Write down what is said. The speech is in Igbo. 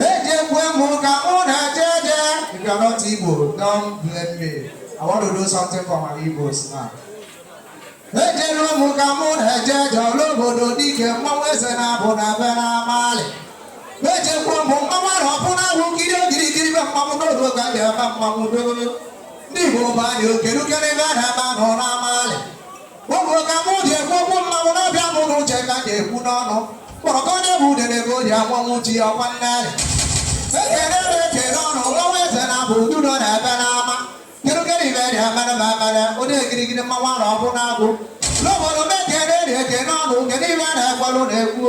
Ejekwe m ka mụ na-eje eje. If you are not Igbo, don't blame me. I want to do something for my Igbos now. Ejelu m ka mụ na-eje eje ọla obodo dike mmanwụ eze na-abụ na be n'amalị. Ejekwe m mmanwụ ahụ ọbụna ahụ kiri okirikiri be mmanwụ n'odo ka m ga-eme mmanwụ dogo. Ndị Igbo bụ anyị okeruke n'ebe a na-eme anụ n'amalị. Ụmụrụ ka mụ ji ekwu okwu mmanwụ n'ọbịa mụ na uche ka ji ekwu n'ọnụ kpọrọ ka onye bụ udere ka o ji anwanwụ ji ọkwa nne anyị ekele na ekele ọnụ ọnwa eze na abụ udu nọ n'ebe n'ama kirikiri ibe dị emere ma emere ụdị ekirikiri mmanwụ arụ ọbụ na-agụ n'obodo m ekele dị ekele ọnụ kedu ibe a na-ekwelụ na-ekwu